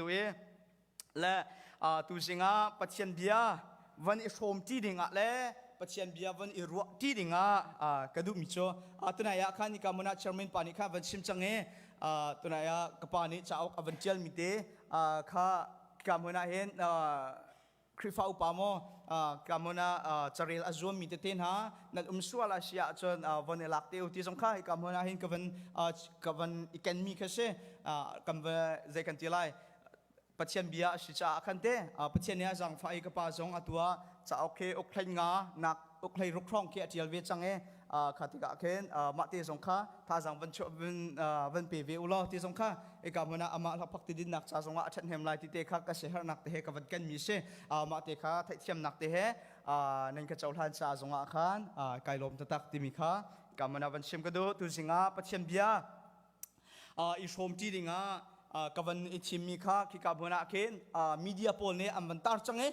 duh i le tu zingah pathian bia van i hrawm ṭi dingah le pathian bia van i ruah ṭi dingah ka duhmi cu tunai ah khan nika muna chairman pa nih khan van chim cang i tunai ah ka pa nih cauk a van ṭialmi te kha nika muna hin Khrihfa upa maw kamun ah carel a zuammi tete hna nan um sual a si ahcun von i lak te u ti zong kha hi kamun ah hin ka van ka van i kenmi kha si kan zei kan ti lai Pathian bia a si caah khan te Pathian nih a zangfah i ka pa zong a tua cauk he uk hlanh nga nak Uklei ruk hrawng khi a ṭial ve cang e. kha tikah khin mah te zong kha thazang van van pe ve u law ti zong kha eka hmun ah amah hla phak ti dinnak ca zongah a ṭhat hnem lai ti te kha ka siaherhnak te he ka van ken mi si mah te kha theihthiamnak te he nan ka cohlan ca zongah khan kai lawm tatak timi kha ka mana van sim ka du tu zingah pathian bia i hrawmṭi dingah ka van i thimmi kha khika hmun ah khin media pawl nih an van tar cang i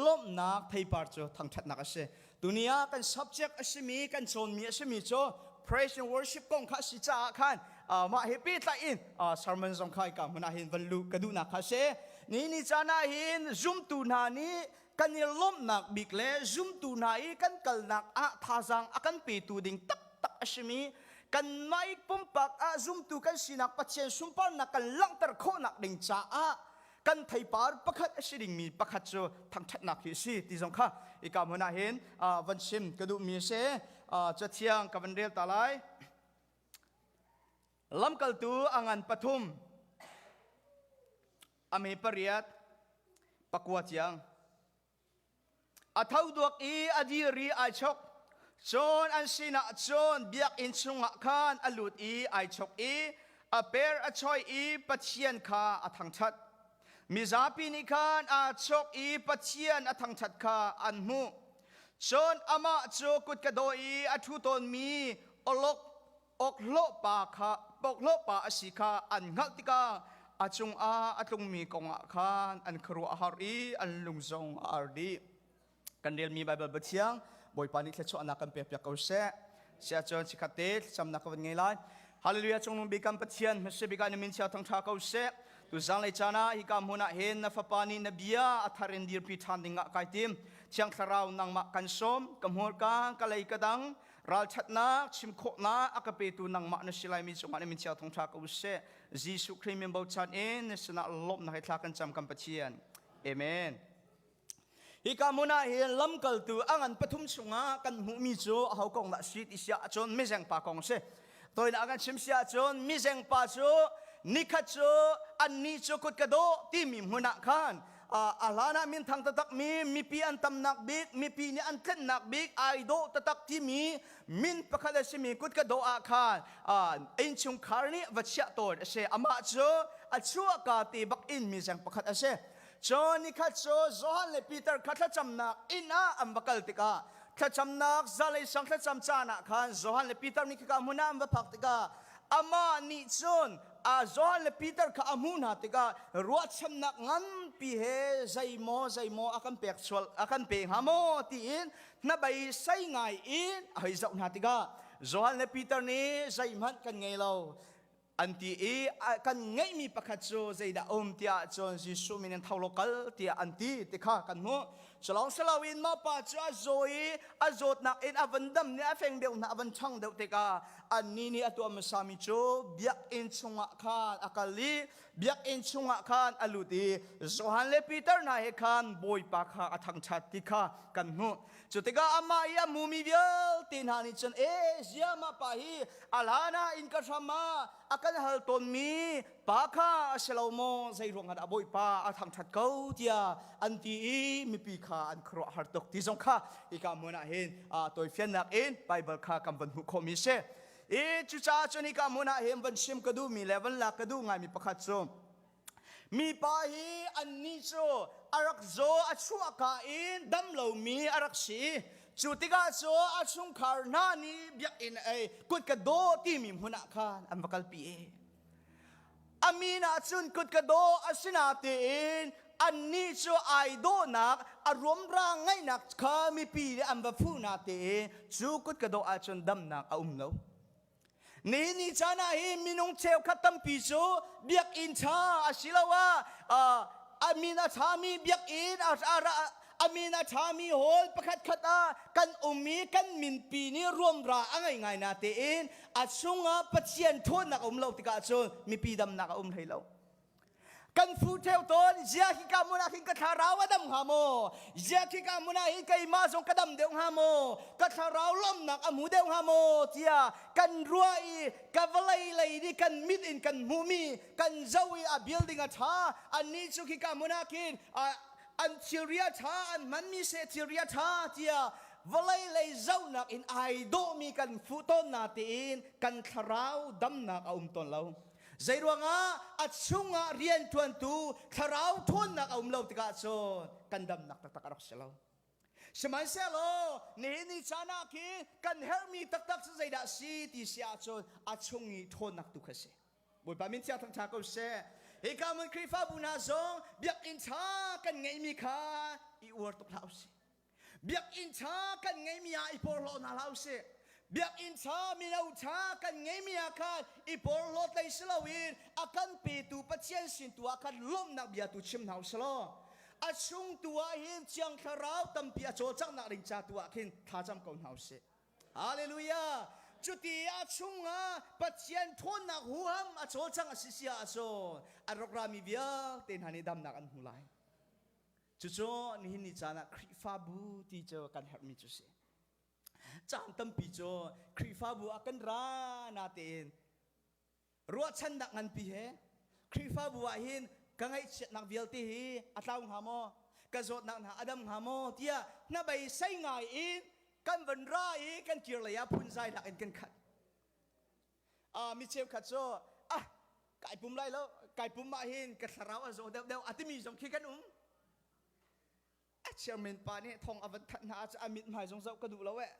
lawmhnak theipar cu thangṭhatnak a si tuni ah kan subject a simi kan cawnmi a simi cu praise and worship kong kha a si caah khan mah he pehtlai in sermon zong kha hika hmun ah hin van luh ka duhnak kha a si ni ni caan ah hin zumtu hna nih kan i lawmhnak bik le zumtu hna i kan kalnak ah thazaang a kan petu ding taktak a simi kanmah i pumpak ah zumtu kan sinak Pathian sunparnak kan langhter khawhnak ding caah kan theipar pakhat a si dingmi pakhat cu thangṭhatnak hi a si ti zong kha i kam huna hin van chim ka duhmi a si cu thiang ka van rel ta lai lamkaltu a ngan pathum ame pariat pakua ciang a tho duak i a diri ai chok cun an sinah cun biakinn chungah khan a lut i ai chok i a per a choi i pathian kha a thangṭhat mizapi nih khan aa chok i pathian a thangṭhat kha an hmuh cun amah cu kut ka daw i a ṭhu tawnmi awlok awkhlawhpa kha awkhlawhpa a si kha an hngalh tikah a cungah a tlungmi kongah khan an khuaruah a har i an lung zong a ar dih. Kan relmi Baibal Pathiang Bawipa nih thluachuahnak kan pekpiak ko seh. Siah cun sikhat te thlacamnak ka van ngei lai. Hallelujah cungnung bikam Pathian hmasa bika na min chia thangṭha ko seh. Tu zanglei caan ah hika hmun ah hin na fapa nih na bia a thar in dirpi ṭhan dingah kai tim. Thiang Thlarau nangmah kan sawm, ka hmurka, ka lei ka dang, ralṭhatnak chim khawhnak a ka petu nangmah na si laimi cungah na min chia thong ṭha ko sih Jesuh Khrih min bochan in na sinah lawmhnak he thla kan cam kan Pathian amen hika hmun ah hin lamkaltu a ngan pathum chungah kan hmuhmi cu aho kong dah si ti siah cun mizeng pa kong a si Toinak kan chim si ahcun mizeng pa cu nikhat cu annih cu kut ka dawh timi hmun ah khan a hlan ah minthang taktak mi mipi an tamnak bik mipi nih an tlennak bik ai dawh taktak timi min pakhat a simi kut ka dawh ah khan innchungkhar nih va chiah tawn a si amah cu a chuahka te bak in mizeng pakhat a si John ni khat cu Johan le Peter kha thlacamnak inn ah an va kal tikah thlacamnak zalei sang thlacam caan ah khan Johan le Peter nih khika hmun ah an va phak tikah amah nih cun a Johan le Peter kha a hmuh hna tikah ruahchannak nganpi he zei maw zei maw a kan pek chual a kan pe hnga maw tiin hnabeisai ngai in a hei zoh hna tikah Johan le Peter nih zeihmanh kan ngei lo an ti i kan ngeihmi pakhat cu zeidah a um tiah cun Jesuh min in tho law kal tiah an ti ti kha kan hmuh cu lawng si loin maupa cu a zaw i a zawtnak in a van dam nih a feng deuh hna a van ṭhang deuh tikah annih nih a tuah hmasami cu biakinn chungah khan a kal i biakinn chungah khan a lut i Johan le Peter hna he khan Bawipa kha a thangṭhat ti kha kan hmuh Cu tikah amah i a mumi vialte hna nih cun, E Asia, mah pa hi a hlan ah innka hram ah a kan hal tawnmi pa kha a si lo maw? Zei ruangah dah Bawipa a thangṭhat ko? tiah an ti i mipi kha an khuaruah har tuk ti zong kha hika hmun ah hin aa toifiannak in Baibal kha kan van hmuh khawhmi a si. I cucaah cun hika hmun ah hin van chim ka duhmi le van lak ka duh ngaimi pakhat cu Mipa hi annih cu a rak zaw a chuahka in dam lomi a rak si. Cu tikah cu a chungkhar hna nih biakinn ei kut ka daw timi hmun ah khan an va kalpi. A min ah cun kut ka daw a si natein annih cu ai dawhnak a ruamra ngaihnak kha mipi nih an va fuh natein cu kut ka daw ahcun damnak a um lo. ni ni caan ah hi minung cheukhat tampi cu biakinn ṭha asiloah a min a ṭhami biakinn a min a ṭhami hall pakhatkhat ah kan um i kan minpi nih ruamra a ngei ngai na tein a chungah Pathian ṭhawnnak a um lo tikah cun mipi damnak a um hlei lo. kan fru theo ton zia khi ka mun ah khin ka thlarau a dam hnga maw zia khi ka mun ah hin keimah zong ka dam deuh hnga maw ka thlarau lawmnak a mu deuh hnga maw tia kan rua i ka vawlei lei nih kan mit in kan hmuh mi kan zo i a building a tha annih cu khi ka mun ah khin an thilria tha an man mi se thilria tha tia vawlei lei zohnak in ai dawhmi kan fuh tawn na tiin kan thlarau damnak a um tawn lo Zeiruangah a chungah rianṭuantu thlarau ṭhawnnak a um lo tikah cun kan damnak taktak a rak si lo. Sihmanhsehlaw nihin ni caan ah khi kan herhmi taktak cu zeidah a si ti si ahcun a chung i ṭhawnnak tu kha a si. Bawipa min thiang thangṭha ko seh. Hika hmun Khrihfabu hna zong biakinn ṭha kan ngeihmi kha i uar tuk hlah u sih. Biakinn ṭha kan ngeimi ah i porhlaw hna hlah usih. Biakinn ṭha, mino ṭha kan ngeimi ah khan i porhlaw tlei si loin a kan petu Pathian sin tu ah khan lawmhnak bia tu chim hna usih law a chung tu ah hin Thiang Thlarau tampi a cawlcanghnak ding ca tu ah khin thlacam ko hna usih. Hallelujah! Cuti a chung ah Pathian ṭhawnnak huham a cawlcang a si sia ahcun a rawk rami vialte hna nih damnak an hmu lai. Cucu nihin ni caan ah Khrihfabu ti cu kan herhmi cu si. Caan tampi cu Khrihfabu ah kan ra natein ruahchannak nganpi he Khrihfabu ah hin ka ngaihchiatnak vialte hi a tlau hnga maw? Ka zawtnak hna a dam hnga maw? tiah hnabei sei ngai in kan van ra i kan kirlei ah phunzai lak in kan khat. ah mi cheukhat cu ah kai pum lai lo kai pum mah hin ka thlarau an zaw deuh deuh a timi zong khi kan um a chairman pa nih thong a van thanh hna ahcun a mit hmai zong zoh ka duh lo eh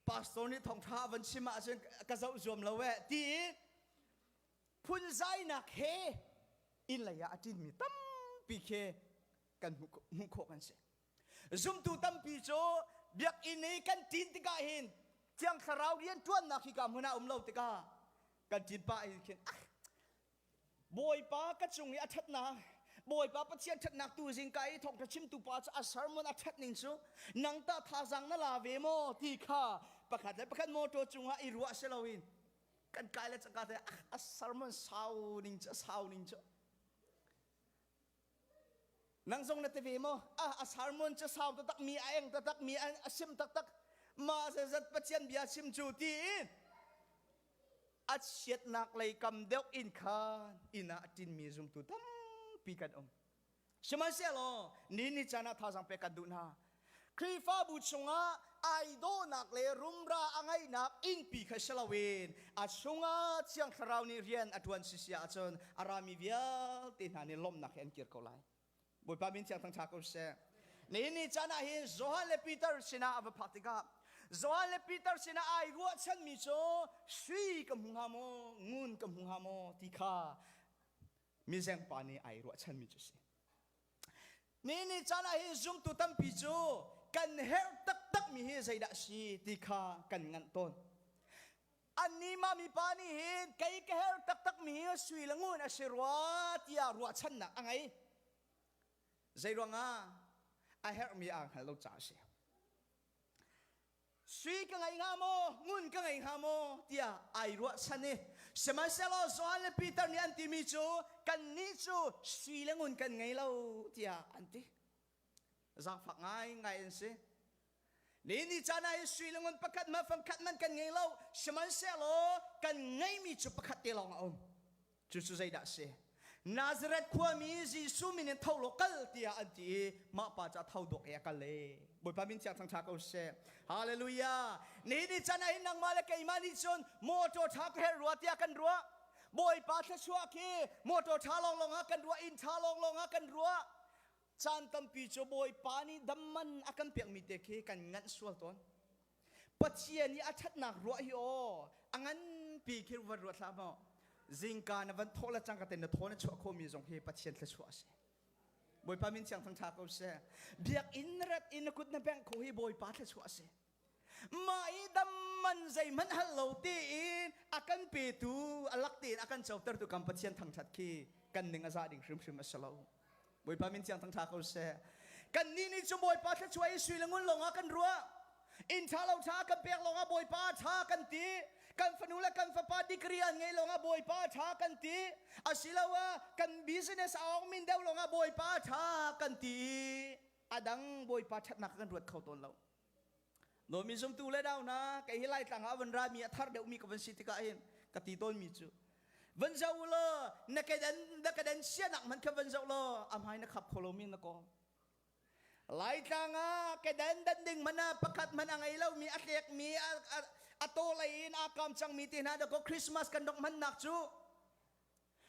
pastor nih thawngṭha a van chim ahcun ka zoh zuam lo eh ti phunzainak he inn lei ah a ṭinmi tampi khi kan hmuh khawh kan si Zumtu tampi cu biakinn i kan ṭin tikah hin thiang thlarau rianṭuannak hika hmun ah um lo tikah kan ṭin pah in khin ah Bawipa ka cung i a ṭhatnak Bawipa Pathian ṭhatnak tu zingka i thawngṭha chimtu pa cu a sermon a ṭhat ning cu nang tah thazaang na la ve maw ti kha pakhat le pakhat motor cungah i ruah si loin kan kai le caka te ah a sermon sau ning cu a sau ning cu Nang zong na ti ve maw? Ah, a sermon cu sau taktak mi, a eng taktak mi, a sim taktak. Mah zat Pathian bia chim cu tiin a chiatnak lei kam deuh in khan inn ah a tinmi zumtu tampi kan um. Sihmanhsehlaw ni ni caan ah thazang pek kan duh hna. Khrihfabu chungah ai dawhnak le rumra a ngeihnak ingpi kha si loin a chungah Thiang Thlarau nih rian a ṭuan si si ahcun a rami vialte hna nih lawmhnak he an kir ko lai. Bawipa min thiang thangṭha ko sih. Nihin ni caan ah hin Johan le Peter sinah a va phak tikah Johan le Peter sinah ai ruahchanmi cu sui ka hmu hnga maw, ngun ka hmu hnga maw ti kha mizengpa nih ai ruahchanmi cu a si. Mi nih caan ah hin zumtu tampi cu kan herh taktakmi hi zeidah a si ti kha kan nganh tawn. Annih mah mipa nih hin kei ka herh taktakmi hi sui le ngun a si rua tiah ruahchannak a ngei. Zei ruangah? A herhmi aa hngal lo caah a si. sui ka ngei hnga maw ngun ka ngei hnga maw tiah ai ruahchan i sihmanhsehlaw Johan le Peter nih an timi cu kannih cu sui le ngun kan ngei lo tiah an ti zaangfak ngaingai an si ni ni caan ah hi sui le ngun pakhat man fangkhat man kan ngei lo sihmanhsehlaw kan ngeimi cu pakhat te lawng a um Cucu zeidah a si? Nazareth khuami Jesuh min in tho law kal tiah an ti i mah pa cu a tho dawk i a kal i Bawipa min chia thangṭha ko sih. Halleluijah! Nihin ni can ah hin nangmah le keimah nih cun mawṭaw ṭha ka herh rua tiah kan ruah. Bawipa thluachuah khi mawṭaw ṭha lawnglawng ah kan ruah, inn ṭha lawnglawng ah kan ruah. Caan tampi cu Bawipa nih dam man a kan pekmi te khi kan nganh sual tawn. Pathian i a ṭhatnak ruah hi aw a nganpi khi van ruat hlah maw zingka na van thawh la cang ka ten na thaw na chuah khomi zong hi Pathian thluachuah a si Bawipa min siang thangṭha ko seh biakinn na rat i na kut na bengh kho hi Bawipa thluachuah a si mah i dam man zeihmanh hal lo tiin a kan petu a lak tein a kan coter tu kan Pathian thangṭhat khi kan ning a za ding hrimhrim a si lo Bawipa min thiang thangṭha ko seh. Kannih nih cu Bawipa thluachuah i sui le ngun lawngah kan ruah. Inn ṭha lo ṭha kan pek lawngah Bawipa a ṭha kan ti. Kan fanu le kan fapa degree an ngeih lawngah Bawipa a ṭha kan ti. Asiloah kan business a awng min deuh lawngah Bawipa a ṭha kan ti i a dang Bawipa ṭhatnak kan ruat kho tawn lo. Nomi zumtu le dau na kai hi lai tlang ah van ra mi a thar deuh mi ka van si tikah hin ka ti tawn mi cu van zo lo na ka dan na ka dan sia nak man kha van zo lo a hmai na khap kho lo mi na ko lai tlang ah ka dan dan ding mana pakhat man a ngei lo mi a tlek mi a to lei in a kam chang mi ti hna da ko christmas kan dok man nak cu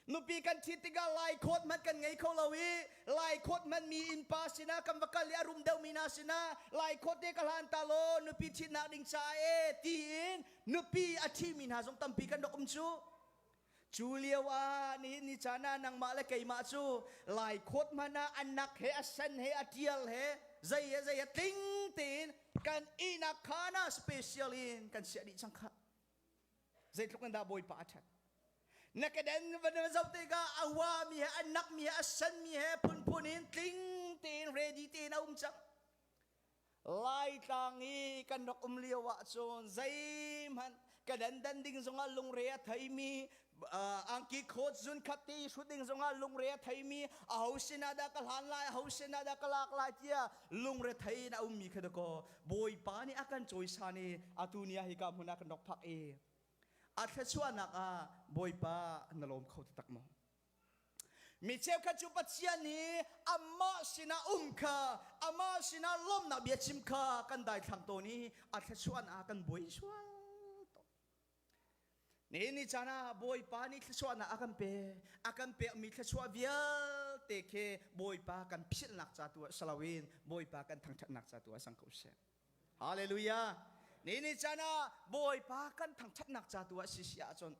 Nupi kan ṭhit tikah lai khawt hmanh kan ngei kho lo i lai khawt hmanh mi innpa sinah kan va kal i a rum deuhmi hna sinah lai khawt te ka hlan ta law nupi ṭhitnak ding caah ee tiin nupi a ṭhimi hna zong tampi kan rak um cu. Cu lio ah nihin ni caan ah nangmah le keimah cu lai khawt hmanh ah a nak he a sen he a ṭial he zei he zei he tling tein kan ihnak khaan ah special in kan siah dih cang khah. Zeitluk in dah Bawipa a ṭhat! Na kedan van na zoh tikah a huami he, a nakmi he, a sanmi he phunphun in tling tein ready tein a um cang. Laitlang i kan rak um lio ahcun zeihmanh kedan dan ding zongah lungre a theimi angki khawt zun khat ti hrut ding zongah lungre a theimi a ho sinah dah ka hlan lai a ho sinah dah ka lak lai tia lungre thei in a ummi kha dako bawipa nih a kan cawisan i atu ni ah hika hmun ah kan rak phak i a thluachuahnak ah bawipa na lawm kho ti tak maw mi cheukhat cu pathian nih amah sinah um kha amah sinah lawmnak bia chim kha kan daithlang tawn i a thluachuahnak ah kan buai sual Nihin ni caan ah Bawipa nih thluachuahnak a kan pek. A kan pekmi thluachuah vialte khi Bawipa kan philhnak ca tu ah si loin Bawipa kan thangṭhatnak ca tu ah sang ko seh. Hallelujah. Nihin ni caan ah Bawipa kan thangṭhatnak ca tu ah si si ahcun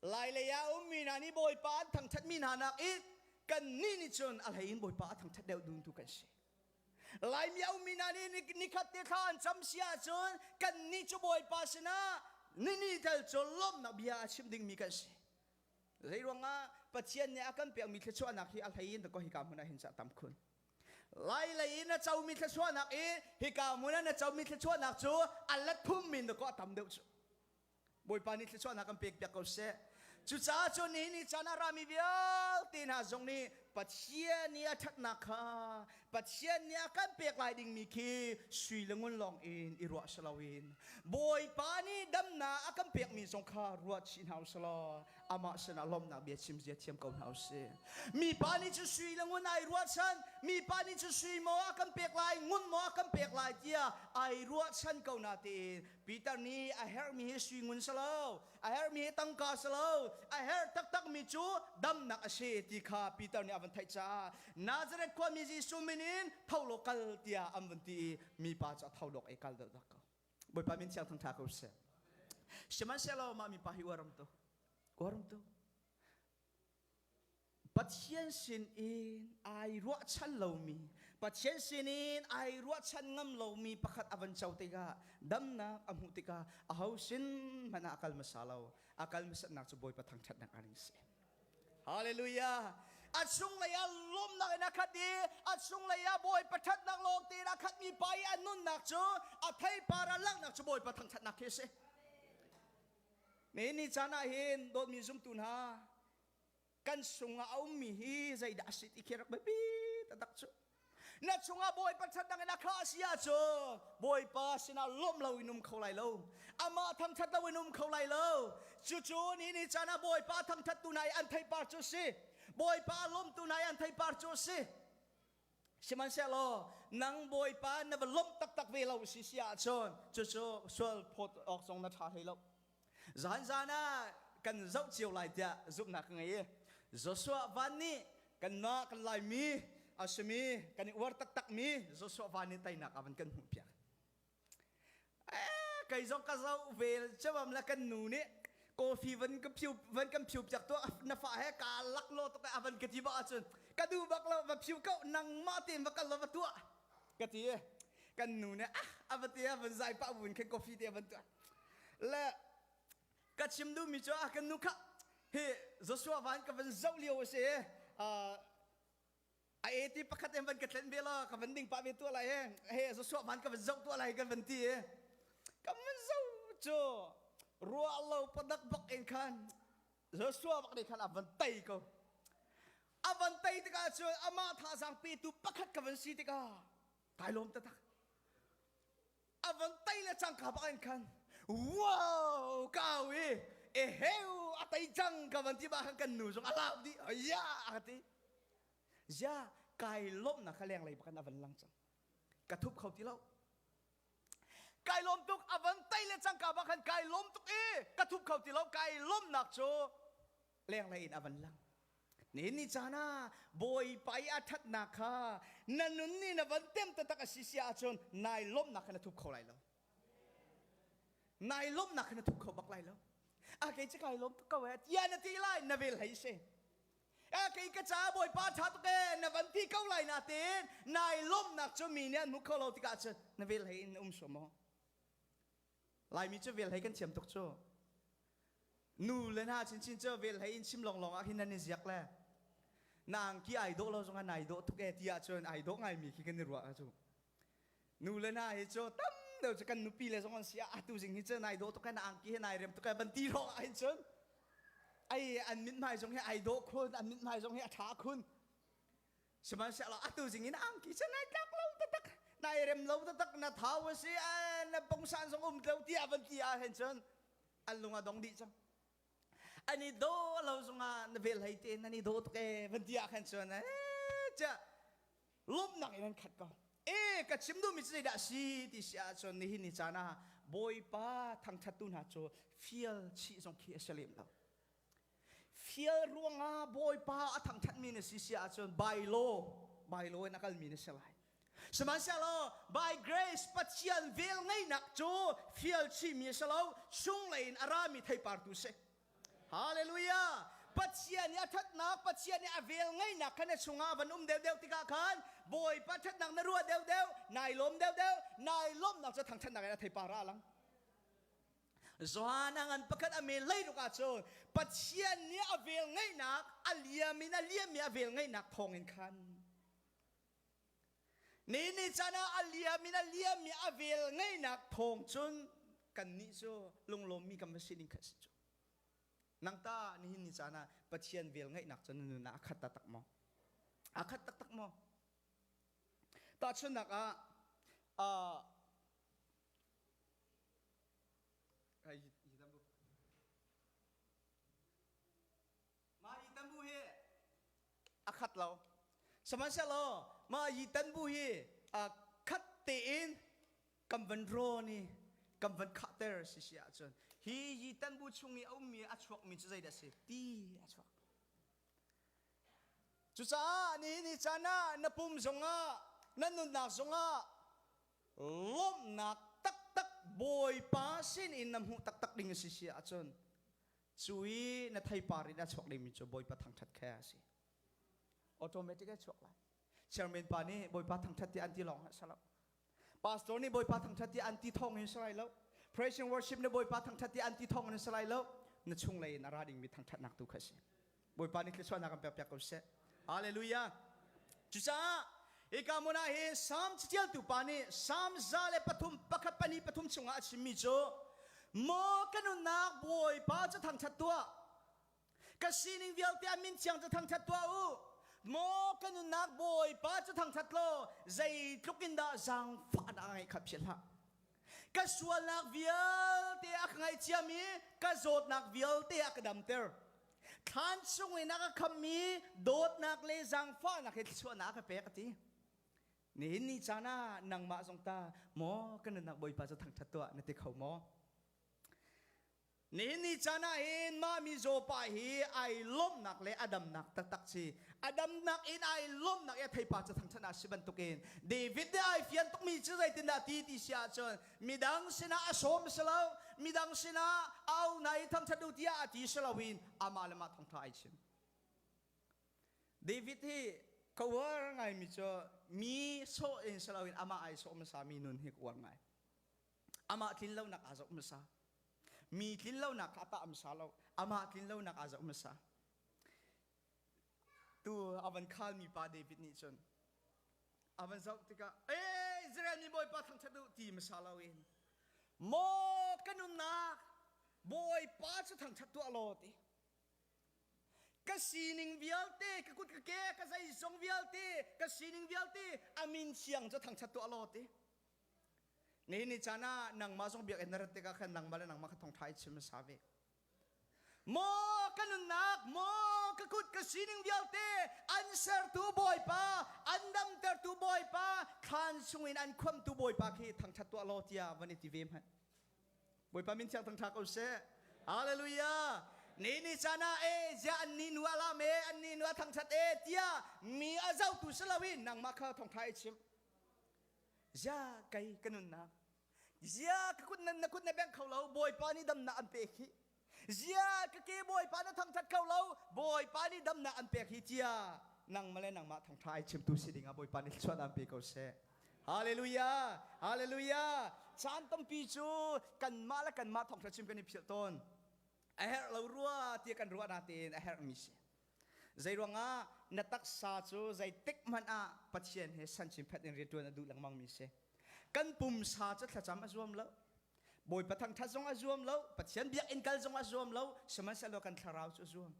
lailei ah ummi hna nih Bawipa an thangṭhatmi hna nak i kannih nih cun a hlei in Bawipa a thangṭhat deuh dun tu kan si. Laimio mi hna nih nikhat te thla an cam si ahcun kan ni cu Bawipa sinah nini tal cu lawmhnak bia a chim dingmi kan si. Zei ruangah Pathian nih a kan pekmi thluachuahnak hi a hlei in ko hika hmun ah hin cah tam khun. Lai lei in a comi thluachuahnak i hika hmun ah na comi thluachuahnak cu a let phum min dakaw a tam deuh cu. Bawipa nih thluachuahnak kan pekpiak ko seh. Cucaah cu ni ni caan ah rami vialte hna zong nih Pathian i a ṭhatnak kha Pathian nih a kan pek lai dingmi khi sui le ngun lawng in i ruah si loin Bawipa nih damnak a kan pekmi zong kha ruah chih hna usih law amah sinah lawmhnak bia chim zia thiam ko hna usih. Mipa nih cun sui le ngun ai ruahchan, mipa nih cun sui maw a kan pek lai, ngun maw a kan pek lai tiah ai ruahchan ko natein Peter nih a herhmi hi sui ngun si lo, a herhmi hi tangka si lo, a herh taktakmi cu damnak a si ti kha Peter nih a van theih caah Nazareth khuami Jesuh min in tho law kal tiah an vun ti i mipa cu a tho lawk i kal deuhdeuh ko. Bawipa min thiang thang ṭha ko sih. Sihmanhsehlaw mah mipa hi uaram tu, uaram tu, Pathian sinin ai ruahchan lomi, Pathian sinin ai ruahchan ngam lomi pakhat a van co tikah damnak a hmuh tikah aho sin hmanh ah a kal hmasa lo. A kal hmasatnak cu Bawipa thangṭhatnak a ring si. Hallelujah! A cunglei ah lawmnak in a khat i a cunglei ah Bawipa ṭhatnak lawng tiin a khatmi pa i a nunnak cu a theipar ah langhnak cu Bawipa thangṭhatnak khi a si. Mee ni caan ah hin dawtmi zumtu hna kan sungah a ummi hi zeidah a si ti khi rak biapi taktak cu na chungah bawipa ṭhatnak in a khah a si ahcun bawipa sinah lawmh loin um kho lai lo amah thangṭhat loin um kho lai lo cucu ni ni caan ah bawipa thangṭhattu hna i an theipar cu a si bawipa a lawmtu hna i an theipar cu a si Sihmanhsehlaw nang Bawipa na va lawmh taktak ve lo si si ahcun cucu sual phawt awk zong na ṭha hlei lo. Zanzan ah kan zoh cio lai tiah zumhnak ka ngei i Joshua van nih kan mah kan laimi a simi kan i uar taktakmi Joshua van nih teinak a van kan hmuhpiak. kei zong ka zoh ve chawam le kan nu nih coffee van ka phiu van kan phiu piak tu na fa he ka lak lo tuk a van ka ti ba ahcun ka du bak lo va phiu kau nangmah tein va kal lo va tua ka ti kan nu nih ah a va ti van zai pa vun khen coffee te van tua le ka chim du mi chu ah kan nu kha hi Joshua van ka van zo liu a si a eti pakhat in van ka tlen ve la ka van ding pa ve tua lai he he zo suah man ka van zoh tua lai kan van ti e ka man zo chu rua lo padak bak in khan zo suah bak nih khan a van tai ko a van tai tika chu ama tha sang pe tu pakhat ka van si tika kai lom ta tak a van tai le cangka bak in khan wow kau i eheu a tai cang ka van ti ba khan kan nu zong a lap di ya a ti ya kai lawmnak kha lenglei bakan a van lang cang ka thup kho ti lo kai lawm tuk a van tai le cangka bak khan kai lawm tuk i ka thup kho ti lo kai lawmnak cu lenglei in a van lang nihin ni caan ah bawipa i a ṭhatnak kha na nun ni na van tem taktak a si si ahcun nai lawmnak kha na thup kho lai lo nai lawmnak kha na thup kho bak lai lo a kei cik lai lawm tuk ko e tia na ti lai na vel hei se a kei ka ca bawipa ṭha tuk e na van ti ko lai na tin nai lawmnak cu mi nih an hmu kho lo tikah cun na vel hei in um sum maw Laimi cu vel hlei kan thiam tuk cu. Nu le hna chinchin cu vel hlei in chim lawnglawng ah hin nan i ziak le nang ki ai dawh lo zong an ai dawh tuk e ti ahcun ai dawh ngaimi khi kan i ruah cu. Nu le hna hi cu tam deuh cu kan nupi le zong an si ah atu zing hi cu nai dawh tuk e na angki hi nai rem tuk e ban ti hrawng ah hin cun ai an mithmai zong hi ai dawh khun an mithmai zong hi a ṭha khun sihmanhsehlaw atu zingin angki cu nai tlak lo taktak nai rem lo taktak na thau a si na pongsan zong um lo tiah van ti ah hin cun an lung a dong dih cang an i daw lo zongah na vel hlei te nan i daw tuk e van ti ah khan chuan eh cha lomnak in an khat ko e ka chim duhmi cu zeidah si ti si ah cun nihin ni caan ah bawipa thangthattu hna cu fial chih zong khi a si lem lo Fial ruangah Bawipa a thangthatmi na si si ahcun by law, by law in a kalmi na si lai. Sihmanhsehlaw by grace Pathian vel ngeihnak cu fial chihmi a si lo, chunglei in a rami theipartu si. Hallelujah! Pathian nih a thatnak, Pathian nih a vel ngeihnak kha na chungah van um deuhdeuh tikah khan Bawipa thatnak na ruah deuhdeuh, nai lawm deuhdeuh, nai lawmhnak cu thangthatnak in a theipar ah a lang. Johan a ngan pakhat a men lei ruk ahcun Pathian nih a vel ngeihnak a liam in a liam i a vel ngeihnak thawng in khan ni ni caan ah a liam in a liam i a vel ngeihnak thawng cun kannih cu lunglawmmi kan va sining khat si cu nang ta nihin ni caan ah Pathian vel ngeihnak cu na nun ah a khat taktak maw a khat taktak maw tahchunhnak ah uh, A khat lo. Sihmanhsehlaw mah yitan bu hi aa khat tein kan van rawn i kan van khahter si si ahcun hi yitan bu chung i a ummi a chuakmi cu zeidah a si ti a chuak. Cucaah ni ni caan ah na pum zongah, na nunnak zongah lawmhnak taktak Bawipa sinin na hmuh taktak ding a si si ahcun cu i na theipar in a chuak dingmi cu Bawipa thangṭhat khe a si automatic a chuak lai chairman pa nih Bawipa thangṭhat tiah an ti lawng a si lo pastor nih Bawipa thangṭhat tiah an ti thawng in si lai lo praise and worship nih Bawipa thangṭhat tiah an ti thawng in si lai lo na chunglei in a ra dingmi thangṭhatnak tu kha a si Bawipa nih thluachuahnak in pekpiak ko sih. Hallelujah! Cucaah hika hmun ah hi Salm caṭialtu pa nih Salm za le pathum, pakhat pahnih pathum chungah a chimmi cu, Maw ka nunnak Bawipa cu thangṭhat tuah, ka sining vialte ah min thiang cu thangṭhat tuah u. Maw ka nunnak Bawipa cu thangṭhat law, zeitluk in dah zaangfahnak a ngeih kha philh hlah. ka sualnak vialte a ka ngaihciam i ka zawtnak vialte a ka damter thlan chung in a ka khammi dawtnak le zangfahnak he thluachuahnak a ka pek a ti nihin ni caan ah nangmah zong ta maw ka nunnak bawipa cu thangṭhat tuah na ti kho maw Nihin ni caan ah hin mah mizaw pa hi ai lawmhnak le a damnak taktak si. A damnak in ai lawmhnak i a theipa cu thangṭhat a si bantukin David nih ai fian tukmi cu zeitindah a ti ti si ahcun midang sinah a sawm a si lo, midang sinah a au hna i thangṭhat u tiah a ti si loin amah le mah thawngṭha ai chim. David hi ka uar ngaimi cu mi sawh in si loin amah ai sawm hmasami nun hi ka uar ngai. amah tlinlonak aa zoh hmasa mi tlinlonak kha a tah hmasa lo amah tlinlonak aa zoh hmasa tu a van khal mi pa David nih cun a van zoh tikah eh Israel mi bawipa thangṭhat u ti hmasa lo in maw kan umnak bawipa cu thangṭhat tuah law ti ka sining vialte ka kut ka ke ka zeizong vialte ka sining vialte a min thiang cu thangṭhat tuah law ti ni ni chan ah nangmah zong biakinn na rat tikah khan nangmah le nangmah kha thong ṭhai chim hasa ve maw ka nunnak maw ka kut ka sining vialte an sertu bawipa an damtertu bawipa thlan sungin an khuamtu bawipa khi thangṭhat tuah law tiah van i ti ve hmanh bawipa min thiang thangṭha ko seh hallelujah ni ni chan ah e ziah an ni nu alam e an ni nu thangṭhat e tiah mi a zotu si loin nangmah kha thongṭha i chim Zia kei ka nunnak Zia ka kut nan na kut na bengh kho lo Bawipa nih dam nak an pek hi Zia ka ke Bawipa na thangthat kho lo Bawipa nih dam nak an pek hi tia nangmah le nangmah thangtha ai chimtu si dingah Bawipa nih thluan an pe ko seh Hallelujah Hallelujah caan tampi cu kanmah le kanmah thawngtha chim kan i philh tawn a herh lo rua tiah kan ruah natein a herhmi si Zeiruangah na taksa cu zeitik hmanh ah Pathian he sanchinphet in rianṭuan a duh lengmangmi a si. Kan pumsa cu thlacam a zuam lo. Bawipa thangṭhat zong a zuam lo, Pathian biakinn kal zong a zuam lo, sihmanhsehlaw kan thlarau cu a zuam.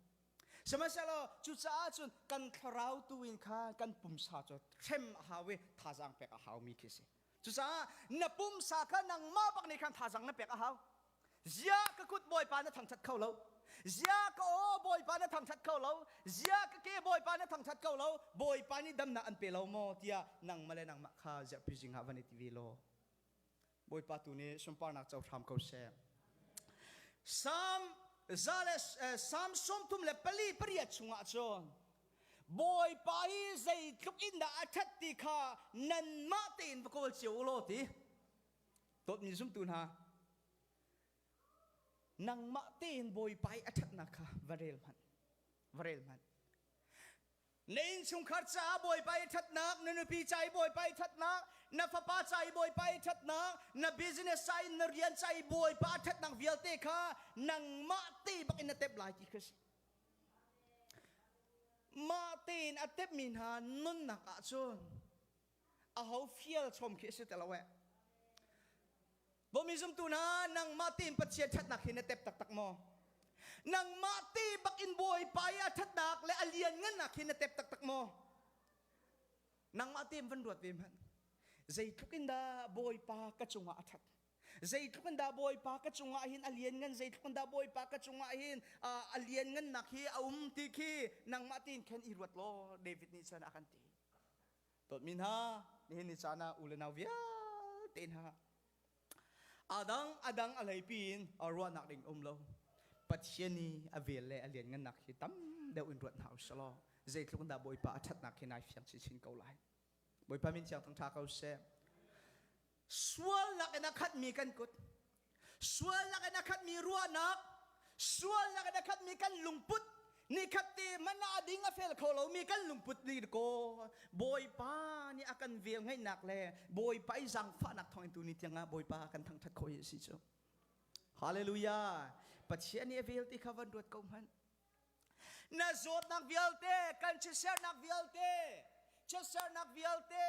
Sihmanhsehlaw cucaah cun kan thlarau tu in khan kan pumsa cu hrem a hau i thazaang pek a haumi khi a si. Cucaah na pumsa kha nangmah bak nih khan thazang na pek a hau. Zia ka kut bawipa na thangṭhat kho lo. Zia ka aw bawipa na thangṭhat kho lo. Zia ka ke bawipa na thangṭhat kho lo. Bawipa nih damnak an pe lo maw tiah nangmah le nangmah kha ziahpi zing ah van i ti ve law. Bawipa tu nih sunparnak co hram ko seh. Psalm, za le, eh, Psalm sawmthum le pali pariat chungah cun Bawipa hi zeitluk in dah a ṭhat ti kha nanmah tein va kawl cio u law ti. Dawtmi zumtu hna, nangmah tein Bawipa i a ṭhatnak kha va rel hmanh. Va rel hmanh. Na innchungkhar caah Bawipa i ṭhatnak, na nupi ca i Bawipa i ṭhatnak, na fapa ca i Bawipa i ṭhatnak, na business ca in na rian ca i Bawipa a ṭhatnak vialte kha nangmah te bak in na temh lai ti khi a si. Mah tein a tepmi hna nunnak ahcun aho fial chom khi a si ti lo eh. Bomi zumtu hna, nangmah tein Pathian ṭhatnak hi na tep taktak maw? Nangmah te bakin Bawipa i a ṭhatnak le a lianngannak hi na tep taktak maw? Nangmah tein van ruat ve hmanh. Zeitluk in dah Bawipa ka cungah a ṭhat. Zeitluk in dah Bawipa ka cungah hin a lianngan, zeitluk in dah Bawipa ka cungah hin a lianngannak hi a um ti khi nangmah tein khan i ruat law David nih cun a kan ti. Dawtmi hna, nihin ni caan ah u le nau vialte hna, adang adang a leipi in ruahnak ding um lo. Pathian i a vel le a lianngannak hi tam deuh in ruat hna u sih law zeitluk in dah Bawipa a ṭhatnak hi nai fiang chinchin ko lai. Bawipa min thiang thang ṭha ko seh. sual lakin a khatmi kan kut sual lakin a khatmi ruahnak sual lakin a khatmi kan lungput ni khat te mana ding a fel kho lomi kan lungput ni ko bawipa ni a kan vel ngaihnak le bawipa i zangfahnak thawng tu ni tiangah bawipa kan thangthat khoi si cu hallelujah pathian ni a vel ti kha van ruat ko hmanh na zawtnak vialte kan chiatsernak vialte chiatsernak vialte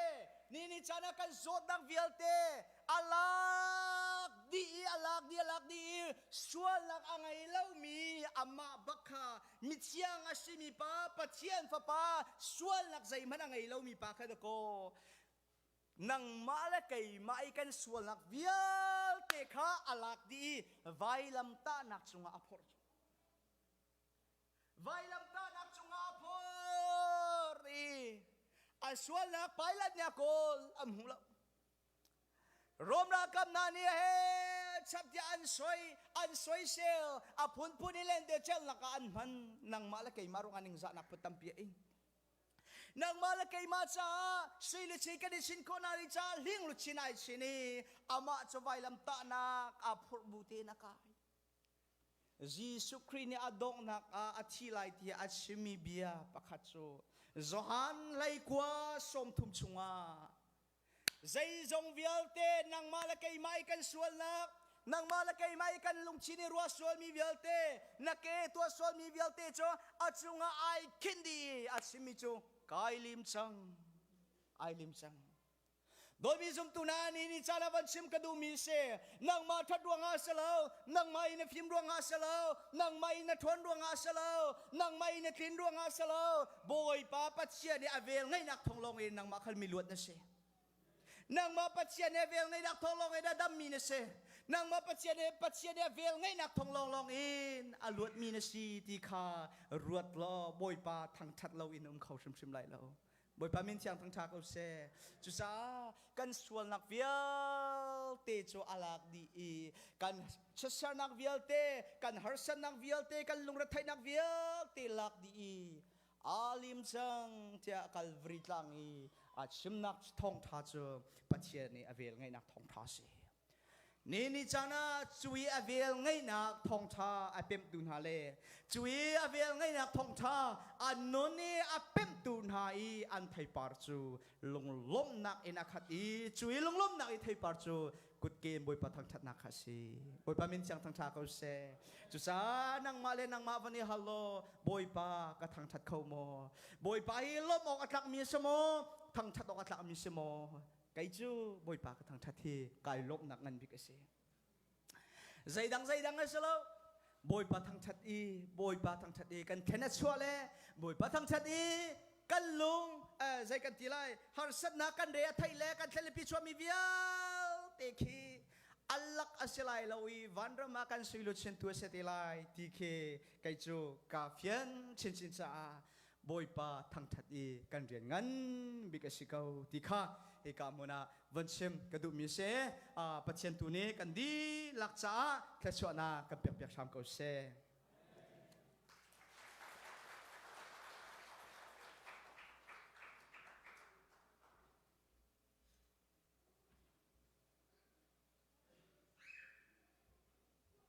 ni ni caan ah kan zawtnak vialte a lak dih i a lak dih a lak dih i sualnak a ngei lomi amah bak kha mithiang a simi pa Pathian fapa sualnak zeihmanh a ngei lomi pa kha dakaw nangmah le keimah i kan sualnak vialte kha a lak dih i vailamtahnak cungah a phorh vailamtahnak cungah a phor i an sualnak Pilate nih a kawl an hmu lo Rom ralkap hna nih he chaptiah an soi an soisel a phunphun i lente celhnak ah an hman nangmah le keimah ruangah ningzahnak put tampi a ing nangmah le keimah caah sui le sui kan i sin khawh hna rih caah hling lu chin ai sin i amah cu vailam tahnak aa phurh bu te na kai Jesuh Khrih nih a donghnak ah a thi lai ti a chimmi bia pakhat cu Johan leikua sawmthum chungah Zeizong vialte nangmah le keimah i kan sualnak, nangmah le keimah i kan lungchin i ruah sualmi vialte, na ke tuah sualmi vialte cu a cungah ai khinh dih i a chimmi cu kai lim cang, ai lim cang. Bawi mi zumtu hna nih ni caan ah van chim ka duhmi a si. nangmah ṭhat ruangah a si lo nangmah i na fim ruangah a si lo nangmah i na ṭhawn ruangah a si lo nangmah i na tlin ruangah a si lo bawipa pathian i a vel ngaihnak thong lawng in nangmah khal mi luat na si nangmah pathian he vel ngaihnak thong lawng in a dammi na si nangmah pathian he pathian he vel ngaihnak thong lawng lawng in a luatmi na si ti kha ruat law bawipa thangṭhat lo in um kho hrimhrim lai lo Bawipa min thiang thangṭha ko seh. Cucaah kan sualnak vialte cu a lak dih i kan siasernak vialte, kan harsatnak vialte, kan lungretheihnak vialte lak dih i aa lim cang tiah Kalvari tlang i a chimnak thawngṭha cu Pathian nih a velngeihnak thawngṭha a si. Ni ni caan ah cui a vel ngeihnak thawngṭha a pemhtu hna le cui a vel ngeihnak thawngṭha an nun i a pemhtu hna i an theipar cu lunglawmhnak in a khat i cui lunglawmhnak i theipar cu kutke in Bawipa thangṭhatnak kha a si. Bawipa min thiang thangṭha ko seh. Cucaah nangmah le nangmah van i hal law Bawipa ka thangṭhat kho maw? Bawipa hi lawmh awk a tlakmi a si maw? Thangṭhat awk a tlakmi a si maw? kei cu bawipa ka thangṭhat hi kai lawmhnak ngan bik a si zeidang zeidang a si lo bawipa thangṭhat i bawipa thangṭhat i kan khen a chuah le bawipa thangṭhat i kan lung zei kan ti lai harsatnak kan re a theih le kan thlelipi chuahmi vialte khi allak a si lai lo i vanram ah kan suiluchintu a si te lai ti khi kei cu ka fian chinchin caah Bawipa thangṭhat i kan rian ngan bik a si ko ti kha hika hmun ah von chim ka duhmi a si. Pathian tu nih kan dihlak caah thluachuahnak kan pekpiak hram ko seh.